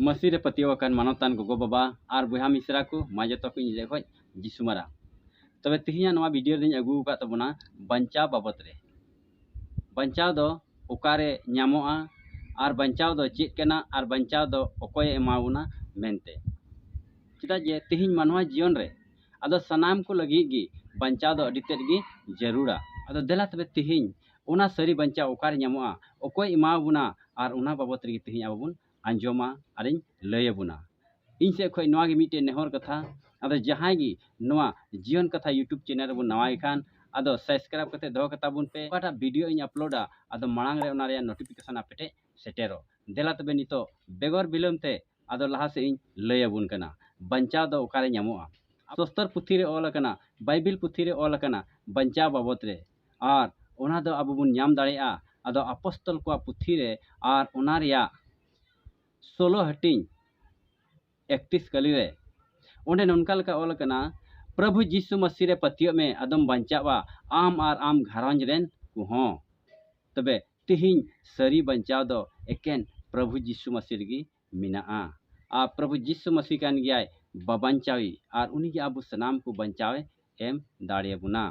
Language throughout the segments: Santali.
ᱢᱟᱹᱥᱤ ᱨᱮ ᱯᱟᱹᱛᱭᱟᱹᱣ ᱟᱠᱟᱱ ᱢᱟᱱᱚᱛᱟᱱ ᱜᱚᱜᱚ ᱵᱟᱵᱟ ᱟᱨ ᱵᱚᱭᱦᱟ ᱢᱤᱥᱨᱟ ᱠᱚ ᱢᱟ ᱡᱚᱛᱚ ᱠᱚ ᱤᱧ ᱞᱟᱹᱭ ᱠᱷᱚᱡ ᱡᱤᱥᱩ ᱢᱟᱨᱟ ᱛᱚᱵᱮ ᱛᱮᱦᱮᱧᱟᱜ ᱱᱚᱣᱟ ᱵᱷᱤᱰᱤᱭᱳ ᱨᱮᱫᱚᱧ ᱟᱹᱜᱩ ᱟᱠᱟᱫ ᱛᱟᱵᱚᱱᱟ ᱵᱟᱧᱪᱟᱣ ᱵᱟᱵᱚᱫ ᱨᱮ ᱵᱟᱧᱪᱟᱣ ᱫᱚ ᱚᱠᱟᱨᱮ ᱧᱟᱢᱚᱜᱼᱟ ᱟᱨ ᱵᱟᱧᱪᱟᱣ ᱫᱚ ᱪᱮᱫ ᱠᱟᱱᱟ ᱟᱨ ᱵᱟᱧᱪᱟᱣ ᱫᱚ ᱚᱠᱚᱭᱮ ᱮᱢᱟᱵᱚᱱᱟ ᱢᱮᱱᱛᱮ ᱪᱮᱫᱟᱜ ᱡᱮ ᱛᱮᱦᱮᱧ ᱢᱟᱱᱣᱟ ᱡᱤᱭᱚᱱ ᱨᱮ ᱟᱫᱚ ᱥᱟᱱᱟᱢ ᱠᱚ ᱞᱟᱹᱜᱤᱫ ᱜᱮ ᱵᱟᱧᱪᱟᱣ ᱫᱚ ᱟᱹᱰᱤ ᱛᱮᱫ ᱜᱮ ᱡᱟᱹᱨᱩᱲᱟ ᱟᱫᱚ ᱫᱮᱞᱟ ᱛᱚᱵᱮ ᱛᱮᱦᱮᱧ ᱚᱱᱟ ᱥᱟᱹᱨᱤ ᱵᱟᱧᱪᱟᱣ ᱚᱠᱟᱨᱮ ᱧᱟᱢᱚᱜᱼᱟ ᱚᱠᱚᱭ ᱮᱢᱟᱣᱟᱵᱚᱱᱟ ᱟᱨ ᱚᱱᱟ ᱵᱟᱵᱚᱛ ᱨᱮᱜᱮ ᱛᱮᱦᱮᱧ ᱟᱵᱚ ᱵᱚᱱ ᱟᱸᱡᱚᱢᱟ ᱟᱨᱤᱧ ᱞᱟᱹᱭᱟᱵᱚᱱᱟ ᱤᱧ ᱥᱮᱫ ᱠᱷᱚᱱ ᱱᱚᱣᱟᱜᱮ ᱢᱤᱫᱴᱮᱱ ᱱᱮᱦᱚᱨ ᱠᱟᱛᱷᱟ ᱟᱫᱚ ᱡᱟᱦᱟᱸᱭ ᱜᱮ ᱱᱚᱣᱟ ᱡᱤᱭᱚᱱ ᱠᱟᱛᱷᱟ ᱤᱭᱩᱴᱩᱵᱽ ᱪᱮᱱᱮᱞ ᱨᱮᱵᱚᱱ ᱱᱟᱣᱟᱭ ᱠᱷᱟᱱ ᱟᱫᱚ ᱥᱟᱵᱥᱠᱨᱟᱭᱤᱵᱽ ᱠᱟᱛᱮ ᱫᱚᱦᱚ ᱠᱟᱛᱟ ᱵᱚᱱ ᱯᱮ ᱚᱠᱟᱴᱟᱜ ᱵᱷᱤᱰᱤᱭᱳ ᱤᱧ ᱟᱯᱞᱳᱰᱟ ᱟᱫᱚ ᱢᱟᱲᱟᱝ ᱨᱮ ᱚᱱᱟ ᱨᱮᱭᱟᱜ ᱱᱳᱴᱤᱯᱷᱤᱠᱮᱥᱚᱱ ᱟᱯᱮ ᱴᱷᱮᱱ ᱥᱮᱴᱮᱨᱚᱜ ᱫᱮᱞᱟ ᱛᱚᱵᱮ ᱱᱤᱛᱚᱜ ᱵᱮᱜᱚᱨ ᱵᱤᱞᱚᱢ ᱛᱮ ᱟᱫᱚ ᱞᱟᱦᱟ ᱥᱮᱫ ᱤᱧ ᱞᱟᱹᱭ ᱟᱵᱚᱱ ᱠᱟᱱᱟ ᱵᱟᱧᱪᱟᱣ ᱫᱚ ᱚᱠᱟᱨᱮ ᱧᱟᱢᱚᱜᱼᱟ ᱥᱚᱥᱛᱚᱨ ᱯᱩᱛᱷᱤ ᱨᱮ ᱚᱞ ᱟᱠᱟᱱᱟ ᱵᱟᱭᱵᱤᱞ ᱯᱩᱛᱷᱤ ᱨᱮ ᱚᱞ ᱟᱠᱟᱱᱟ ᱵᱟᱧᱪᱟᱣ ᱵᱟᱵᱚᱫ ᱨᱮ ᱟᱨ ᱚᱱᱟ ᱫᱚ ᱟᱵᱚ ᱵᱚᱱ ᱧᱟᱢ ᱫᱟᱲᱮᱭᱟᱜᱼᱟ ᱟᱫᱚ ᱟᱯᱚᱥᱛᱚᱞ ᱠᱚᱣᱟᱜ ᱯᱩᱛᱷᱤ ᱨᱮ ᱟᱨ ᱚᱱᱟ ᱨᱮᱭᱟᱜ ᱥᱳᱞᱳ ᱦᱟᱹᱴᱤᱧ ᱮᱠᱛᱤᱥ ᱠᱟᱹᱞᱤ ᱨᱮ ᱚᱸᱰᱮ ᱱᱚᱝᱠᱟ ᱞᱮᱠᱟ ᱚᱞ ᱟᱠᱟᱱᱟ ᱯᱨᱚᱵᱷᱩ ᱡᱤᱥᱩ ᱢᱟᱹᱥᱤ ᱨᱮ ᱯᱟᱹᱛᱭᱟᱹᱜ ᱢᱮ ᱟᱫᱚᱢ ᱵᱟᱧᱪᱟᱜᱼᱟ ᱟᱢ ᱟᱨ ᱟᱢ ᱜᱷᱟᱨᱚᱸᱡᱽ ᱨᱮᱱ ᱠᱚᱦᱚᱸ ᱛᱚᱵᱮ ᱛᱤᱦᱤᱧ ᱥᱟᱹᱨᱤ ᱵᱟᱧᱪᱟᱣ ᱫᱚ ᱮᱠᱮᱱ ᱯᱨᱚᱵᱷᱩ ᱡᱤᱥᱩ ᱢᱟᱥᱤ ᱨᱮᱜᱮ ᱢᱮᱱᱟᱜᱼᱟ ᱟᱨ ᱯᱨᱚᱵᱷᱩ ᱡᱤᱥᱩ ᱢᱟᱥᱤ ᱠᱟᱱ ᱜᱮᱭᱟᱭ ᱵᱟᱵᱟᱧᱪᱟᱣᱤ ᱟᱨ ᱩᱱᱤ ᱜᱮ ᱟᱵᱚ ᱥᱟᱱᱟᱢ ᱠᱚ ᱵᱟᱧᱪᱟᱣ ᱮ ᱮᱢ ᱫᱟᱲᱮ ᱟᱵᱚᱱᱟ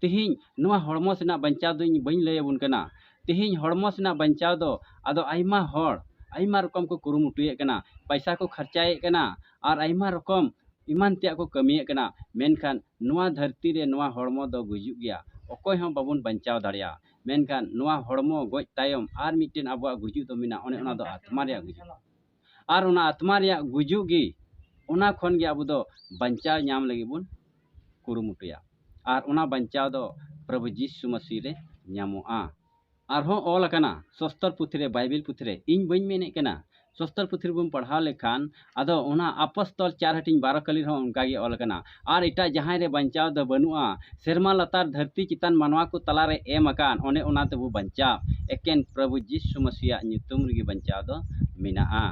ᱛᱤᱦᱤᱧ ᱱᱚᱣᱟ ᱦᱚᱲᱢᱚ ᱥᱮᱱᱟᱜ ᱵᱟᱧᱪᱟᱣ ᱫᱚ ᱤᱧ ᱵᱟᱹᱧ ᱞᱟᱹᱭ ᱟᱵᱚᱱ ᱠᱟᱱᱟ ᱛᱤᱦᱤᱧ ᱦᱚᱲᱢᱚ ᱥᱮᱱᱟᱜ ᱵᱟᱧᱪᱟᱣ ᱫᱚ ᱟᱫᱚ ᱟᱭᱢᱟ ᱦᱚᱲ ᱟᱭᱢᱟ ᱨᱚᱠᱚᱢ ᱠᱚ ᱠᱩᱨᱩᱢᱩᱴᱩᱭᱮᱫ ᱠᱟᱱᱟ ᱯᱟᱭᱥᱟ ᱠᱚ ᱠᱷᱚᱨᱪᱟᱭᱮᱫ ᱠᱟᱱᱟ ᱟᱨ ᱟᱭᱢᱟ ᱨᱚᱠᱚᱢ ᱮᱢᱟᱱ ᱛᱮᱭᱟᱜ ᱠᱚ ᱠᱟᱹᱢᱤᱭᱮᱫ ᱠᱟᱱᱟ ᱢᱮᱱᱠᱷᱟᱱ ᱱᱚᱣᱟ ᱫᱷᱟᱹᱨᱛᱤ ᱨᱮ ᱱᱚᱣᱟ ᱦᱚᱲᱢᱚ ᱫᱚ ᱜᱩᱡᱩᱜ ᱜᱮᱭᱟ ᱚᱠᱚᱭ ᱦᱚᱸ ᱵᱟᱵᱚᱱ ᱵᱟᱧᱪᱟᱣ ᱫᱟᱲᱮᱭᱟᱜᱼᱟ ᱢᱮᱱᱠᱷᱟᱱ ᱱᱚᱣᱟ ᱦᱚᱲᱢᱚ ᱜᱚᱡ ᱛᱟᱭᱚᱢ ᱟᱨ ᱢᱤᱫᱴᱮᱱ ᱟᱵᱚᱣᱟᱜ ᱜᱩᱡᱩᱜ ᱫᱚ ᱢᱮᱱᱟᱜᱼᱟ ᱚᱱᱮ ᱚᱱᱟ ᱫᱚ ᱟᱛᱢᱟ ᱨᱮᱭᱟᱜ ᱜᱩᱡᱩᱜ ᱟᱨ ᱚᱱᱟ ᱟᱛᱢᱟ ᱨᱮᱭᱟᱜ ᱜᱩᱡᱩᱜ ᱜᱮ ᱚᱱᱟ ᱠᱷᱚᱱ ᱜᱮ ᱟᱵᱚ ᱫᱚ ᱵᱟᱧᱪᱟᱣ ᱧᱟᱢ ᱞᱟᱹᱜᱤᱫ ᱵᱚᱱ ᱠᱩᱨᱩᱢᱩᱴᱩᱭᱟ ᱟᱨ ᱚᱱᱟ ᱵᱟᱧᱪᱟᱣ ᱫᱚ ᱯᱨᱚᱵᱷᱩ ᱡᱤᱥᱩ ᱢᱟᱹᱥᱤ ᱨᱮ ᱧᱟᱢᱚᱜᱼᱟ ᱟᱨᱦᱚᱸ ᱚᱞ ᱟᱠᱟᱱᱟ ᱥᱚᱥᱛᱚᱨ ᱯᱩᱛᱷᱤ ᱨᱮ ᱵᱟᱭᱵᱮᱞ ᱯᱩᱛᱷᱤ ᱨᱮ ᱤᱧ ᱵᱟᱹᱧ ᱢᱮᱱᱮᱫ ᱠᱟᱱᱟ ᱥᱚᱥᱛᱚᱨ ᱯᱩᱛᱷᱤ ᱨᱮᱵᱚᱱ ᱯᱟᱲᱦᱟᱣ ᱞᱮᱠᱷᱟᱱ ᱟᱫᱚ ᱚᱱᱟ ᱟᱯᱚᱥᱛᱚᱞ ᱪᱟᱨ ᱦᱟᱹᱴᱤᱧ ᱵᱟᱨᱚ ᱠᱟᱹᱞᱤ ᱨᱮᱦᱚᱸ ᱚᱱᱠᱟ ᱜᱮ ᱚᱞ ᱟᱠᱟᱱᱟ ᱟᱨ ᱮᱴᱟᱜ ᱡᱟᱦᱟᱸᱭ ᱨᱮ ᱵᱟᱧᱪᱟᱣ ᱫᱚ ᱵᱟᱹᱱᱩᱜᱼᱟ ᱥᱮᱨᱢᱟ ᱞᱟᱛᱟᱨ ᱫᱷᱟᱹᱨᱛᱤ ᱪᱮᱛᱟᱱ ᱢᱟᱱᱣᱟ ᱠᱚ ᱛᱟᱞᱟ ᱨᱮ ᱮᱢ ᱟᱠᱟᱱ ᱚᱱᱮ ᱚᱱᱟ ᱛᱮᱵᱚ ᱵᱟᱧᱪᱟᱜ ᱮᱠᱮᱱ ᱯᱨᱚᱵᱷᱩ ᱡᱤᱥᱩ ᱢᱟᱹᱥᱤᱭᱟᱜ ᱧᱩᱛᱩᱢ ᱨᱮᱜᱮ ᱵᱟᱧᱪᱟᱣ ᱫᱚ ᱢᱮᱱᱟᱜᱼᱟ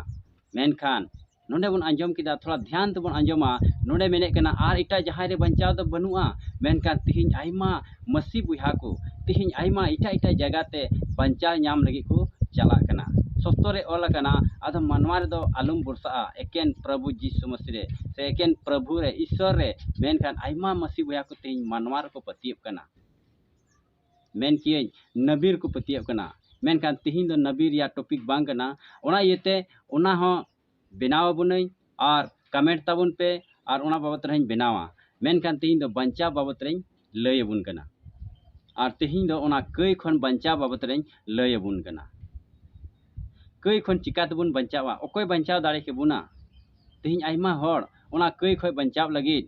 ᱢᱮᱱᱠᱷᱟᱱ ᱱᱚᱰᱮ ᱵᱚᱱ ᱟᱸᱡᱚᱢ ᱠᱮᱫᱟ ᱛᱷᱚᱲᱟ ᱫᱷᱮᱭᱟᱱ ᱛᱮᱵᱚᱱ ᱟᱸᱡᱚᱢᱟ ᱱᱚᱰᱮ ᱢᱮᱱᱮᱫ ᱠᱟᱱᱟ ᱟᱨ ᱮᱴᱟᱜ ᱡᱟᱦᱟᱸᱭ ᱨᱮ ᱵᱟᱧᱪᱟᱣ ᱫᱚ ᱵᱟᱹᱱᱩᱜᱼᱟ ᱢᱮᱱᱠᱷᱟᱱ ᱛᱮᱦᱮᱧ ᱟᱭᱢᱟ ᱢᱟᱹᱥᱤ ᱵᱚᱭᱦᱟ ᱠᱚ ᱛᱮᱦᱮᱧ ᱟᱭᱢᱟ ᱮᱴᱟᱜ ᱮᱴᱟᱜ ᱡᱟᱭᱜᱟ ᱛᱮ ᱵᱟᱧᱪᱟᱣ ᱧᱟᱢ ᱞᱟᱹᱜᱤᱫ ᱠᱚ ᱪᱟᱞᱟᱜ ᱠᱟᱱᱟ ᱥᱚᱥᱛᱚ ᱨᱮ ᱚᱞ ᱟᱠᱟᱱᱟ ᱟᱫᱚ ᱢᱟᱱᱣᱟ ᱨᱮᱫᱚ ᱟᱞᱚᱢ ᱵᱷᱚᱨᱥᱟᱜᱼᱟ ᱮᱠᱮᱱ ᱯᱨᱚᱵᱷᱩ ᱡᱤᱥᱩ ᱢᱟᱹᱥᱤ ᱨᱮ ᱥᱮ ᱮᱠᱮᱱ ᱯᱨᱚᱵᱷᱩ ᱨᱮ ᱤᱥᱥᱚᱨ ᱨᱮ ᱢᱮᱱᱠᱷᱟᱱ ᱟᱭᱢᱟ ᱢᱟᱹᱥᱤ ᱵᱚᱭᱦᱟ ᱠᱚ ᱛᱮᱦᱮᱧ ᱢᱟᱱᱣᱟ ᱨᱮᱠᱚ ᱯᱟᱹᱛᱭᱟᱹᱜ ᱠᱟᱱᱟ ᱢᱮᱱ ᱠᱤᱭᱟᱹᱧ ᱱᱟᱹᱵᱤ ᱨᱮᱠᱚ ᱯᱟᱹᱛᱭᱟᱹᱜ ᱠᱟᱱᱟ ᱢᱮᱱᱠᱷᱟᱱ ᱛᱮᱦᱮᱧ ᱫᱚ ᱱᱟᱹᱵᱤ ᱨᱮᱭᱟᱜ ᱴᱚᱯᱤᱠ ᱵᱟᱝ ᱠᱟᱱᱟ ᱚᱱᱟ ᱤᱭᱟᱹᱛᱮ ᱚᱱᱟ ᱦᱚᱸ ᱵᱮᱱᱟᱣ ᱟᱵᱚᱱᱟᱹᱧ ᱟᱨ ᱠᱟᱢᱮᱱᱴ ᱛᱟᱵᱚᱱ ᱯᱮ ᱟᱨ ᱚᱱᱟ ᱵᱟᱵᱚᱛ ᱨᱮᱦᱚᱸᱧ ᱵᱮᱱᱟᱣᱟ ᱢᱮᱱᱠᱷᱟᱱ ᱛᱮᱦᱮᱧ ᱫᱚ ᱵᱟᱧᱪᱟᱣ ᱵᱟᱵᱚᱛ ᱨᱮᱧ ᱞᱟᱹᱭ ᱟᱵᱚᱱ ᱠᱟᱱᱟ ᱟᱨ ᱛᱮᱦᱮᱧ ᱫᱚ ᱚᱱᱟ ᱠᱟᱹᱭ ᱠᱷᱚᱱ ᱵᱟᱧᱪᱟᱣ ᱵᱟᱵᱚᱛ ᱨᱮᱧ ᱞᱟᱹᱭ ᱟᱵᱚᱱ ᱠᱟᱱᱟ ᱠᱟᱹᱭ ᱠᱷᱚᱱ ᱪᱤᱠᱟ ᱛᱮᱵᱚᱱ ᱵᱟᱧᱪᱟᱣᱟ ᱚᱠᱚᱭ ᱵᱟᱧᱪᱟᱣ ᱫᱟᱲᱮ ᱠᱮᱵᱚᱱᱟ ᱛᱮᱦᱮᱧ ᱟᱭᱢᱟ ᱦᱚᱲ ᱚᱱᱟ ᱠᱟᱹᱭ ᱠᱷᱚᱱ ᱵᱟᱧᱪᱟᱣ ᱞᱟᱹᱜᱤᱫ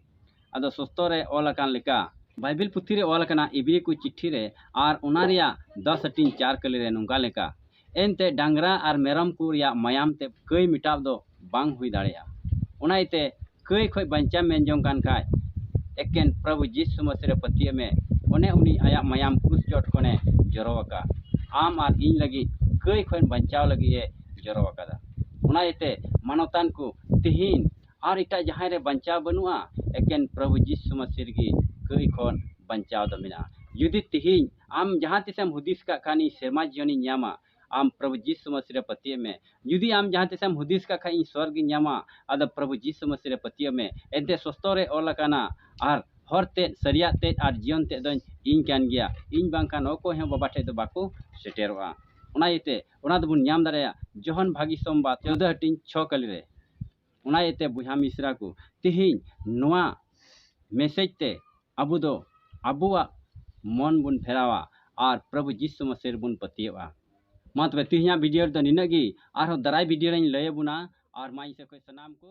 ᱟᱫᱚ ᱥᱚᱥᱛᱚ ᱨᱮ ᱚᱞ ᱟᱠᱟᱱ ᱞᱮᱠᱟ ᱵᱟᱭᱵᱮᱞ ᱯᱩᱛᱷᱤ ᱨᱮ ᱚᱞ ᱟᱠᱟᱱᱟ ᱤᱵᱨᱤ ᱠᱚ ᱪᱤᱴᱷᱤ ᱨᱮ ᱟᱨ ᱚᱱᱟ ᱨᱮᱭᱟᱜ ᱫᱚᱥ ᱦᱟᱹᱴᱤᱧ ᱪᱟᱨ ᱠᱟᱹᱞᱤ ᱨᱮ ᱱᱚᱝᱠᱟ ᱞᱮᱠᱟ ᱮᱱᱛᱮ ᱰᱟᱝᱨᱟ ᱟᱨ ᱢᱮᱨᱚᱢ ᱠᱚ ᱨᱮᱭᱟᱜ ᱢᱟᱭᱟᱢ ᱛᱮ ᱠᱟᱹᱭ ᱢᱮᱴᱟᱣ ᱫᱚ ᱵᱟᱝ ᱦᱩᱭ ᱫᱟᱲᱮᱭᱟᱜᱼᱟ᱾ ᱚᱱᱟ ᱤᱭᱟᱹᱛᱮ ᱠᱟᱹᱭ ᱠᱷᱚᱡ ᱵᱟᱧᱪᱟᱣ ᱢᱮᱱ ᱡᱚᱝ ᱠᱟᱱ ᱠᱷᱟᱡ ᱮᱠᱮᱱ ᱯᱨᱚᱵᱷᱩ ᱡᱤᱥᱩ ᱢᱟᱹᱥᱤ ᱨᱮ ᱯᱟᱹᱛᱭᱟᱹᱜ ᱢᱮ᱾ ᱚᱱᱮ ᱩᱱᱤ ᱟᱭᱟᱜ ᱢᱟᱭᱟᱢ ᱠᱨᱩᱥ ᱪᱚᱴ ᱠᱷᱚᱱ ᱮ ᱡᱚᱨᱚ ᱟᱠᱟᱫ ᱟᱢ ᱟᱨ ᱤᱧ ᱞᱟᱹᱜᱤᱫ ᱠᱟᱹᱭ ᱠᱷᱚᱱ ᱵᱟᱧᱪᱟᱣ ᱞᱟᱹᱜᱤᱫ ᱮ ᱡᱚᱨᱚ ᱟᱠᱟᱫᱟ᱾ ᱚᱱᱟ ᱤᱭᱟᱹᱛᱮ ᱢᱟᱱᱚᱛᱟᱱ ᱠᱚ ᱛᱤᱦᱤᱧ ᱟᱨ ᱮᱴᱟᱜ ᱡᱟᱦᱟᱸᱭ ᱨᱮ ᱵᱟᱧᱪᱟᱣ ᱵᱟᱹᱱᱩᱜᱼᱟ ᱮᱠᱮᱱ ᱯᱨᱚᱵᱷᱩ ᱡᱤᱥᱩ ᱢᱟᱹᱥᱤ ᱨᱮᱜᱮ ᱠᱟᱹᱭ ᱠᱷᱚᱱ ᱵᱟᱧᱪᱟᱣ ᱫᱚ ᱢᱮᱱᱟᱜᱼᱟ᱾ ᱡᱩᱫᱤ ᱛᱤᱦᱤᱧ᱾ ᱟᱢ ᱡᱟᱦᱟᱸ ᱛᱤᱥᱮᱢ ᱦᱩᱫᱤᱥ ᱠᱟᱜ ᱠᱷᱟᱱ ᱤᱧ ᱥᱮᱨᱢᱟ ᱡᱤᱭᱚᱱᱤᱧ ᱧᱟᱢᱟ ᱟᱢ ᱯᱨᱚᱵᱷᱩ ᱡᱤᱥᱩ ᱢᱟᱹᱥᱤ ᱨᱮ ᱯᱟᱹᱛᱭᱟᱹᱜ ᱢᱮ ᱡᱩᱫᱤ ᱟᱢ ᱡᱟᱦᱟᱸ ᱛᱤᱥᱮᱢ ᱦᱩᱫᱤᱥ ᱠᱟᱜ ᱠᱷᱟᱱ ᱤᱧ ᱥᱚᱨᱜᱽ ᱤᱧ ᱧᱟᱢᱟ ᱟᱫᱚ ᱯᱨᱚᱵᱷᱩ ᱡᱤᱥᱩ ᱢᱟᱹᱥᱤ ᱨᱮ ᱯᱟᱹᱛᱭᱟᱹᱜ ᱢᱮ ᱮᱱᱛᱮ ᱥᱚᱥᱛᱚ ᱨᱮ ᱚᱞ ᱟᱠᱟᱱᱟ ᱟᱨ ᱦᱚᱨ ᱛᱮᱫ ᱥᱟᱹᱨᱤᱭᱟᱜ ᱛᱮᱫ ᱟᱨ ᱡᱤᱭᱚᱱ ᱛᱮᱫ ᱫᱚᱧ ᱤᱧ ᱠᱟᱱ ᱜᱮᱭᱟ ᱤᱧ ᱵᱟᱝᱠᱷᱟᱱ ᱚᱠᱚᱭ ᱦᱚᱸ ᱵᱟᱵᱟ ᱴᱷᱮᱱ ᱫᱚ ᱵᱟᱠᱚ ᱥᱮᱴᱮᱨᱚᱜᱼᱟ ᱚᱱᱟ ᱤᱭᱟᱹᱛᱮ ᱚᱱᱟ ᱫᱚᱵᱚᱱ ᱧᱟᱢ ᱫᱟᱲᱮᱭᱟᱜᱼᱟ ᱡᱚᱦᱚᱱ ᱵᱷᱟᱹᱜᱤ ᱥᱚᱢᱵᱟᱫ ᱪᱳᱫᱽᱫᱚ ᱦᱟᱹᱴᱤᱧ ᱪᱷᱚ ᱠᱟᱹᱞᱤ ᱨᱮ ᱚᱱᱟ ᱤᱭᱟᱹ ᱛᱮ ᱵᱚᱭᱦᱟ ᱢᱤᱥᱨᱟ ᱠᱚ ᱛᱮᱦᱮᱧ ᱱᱚᱣᱟ ᱢᱮᱥᱮᱡᱽ ᱛᱮ ᱟᱵᱚ ᱫᱚ ᱟᱵᱚᱣᱟᱜ ᱢᱚᱱ ᱵᱚᱱ ᱯᱷᱮᱨᱟᱣᱟ ᱟᱨ ᱯᱨᱚᱵᱷᱩ ᱡᱤᱥᱩ ᱢᱟᱥᱮ ᱨᱮᱵᱚᱱ ᱯᱟᱹᱛᱭᱟᱹᱜᱼᱟ ᱢᱟ ᱛᱚᱵᱮ ᱛᱮᱦᱮᱧᱟᱜ ᱵᱷᱤᱰᱤᱭᱳ ᱨᱮᱫᱚ ᱱᱤᱱᱟᱹᱜ ᱜᱮ ᱟᱨᱦᱚᱸ ᱫᱟᱨᱟᱭ ᱵᱷᱤᱰᱤᱭᱳ ᱨᱮᱧ ᱞᱟᱹᱭ ᱟᱵᱚᱱᱟ ᱟᱨ ᱢᱟ ᱤᱧ ᱥᱮᱫ ᱠᱷᱚᱱ ᱥᱟᱱᱟᱢ ᱠᱚ